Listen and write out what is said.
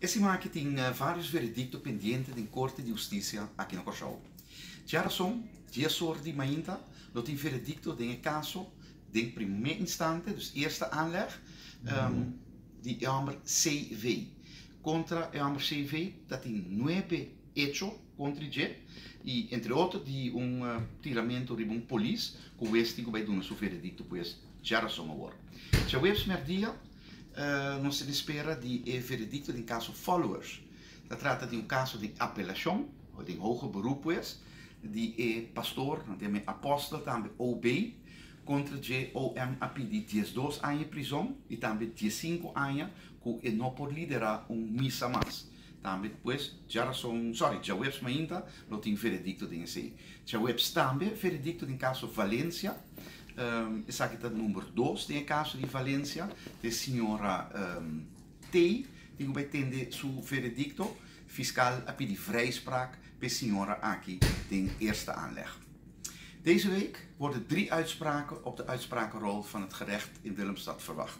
E simanaki tin varios veredicto pendiente den Corte di Husticia aki na Corsoao. Tje a rason, dia sor di mainta lo tin veredicto den e caso den prime instante, dus eerste aanleg, di e homber CV. Contra e homber CV ta tin nuebe hecho contri dje y entre otro di un tiramento riba un polis cu hues tin cu bay duna su veredicto pues tje a rason awor. Tje huebs merdia, Nos tin e spera di e veredicto den caso Followers. Ta trata di un caso den apelacion, o den hoge beroep pues, di e pastor, nan ta yama e apostel tambe, OB, contra dje OM a pidi diesdos aña e prizon y tambe diescinco aña cu e no por lidera un misa mas. Tambe pues, dja rason, sorry, dja webs mainta lo tin veredicto den esey. Dja webs tambe veredicto den caso Valencia. Esaki ta number dos den e caso di Valencia. E señora Tey tin cu bay tende su veredicto. Fiscal a pidi vrijspraak pa e señora aki den eerste aanleg. Deze week worden drie uitspraken op de uitsprakenrol van het gerecht in Willemstad verwacht.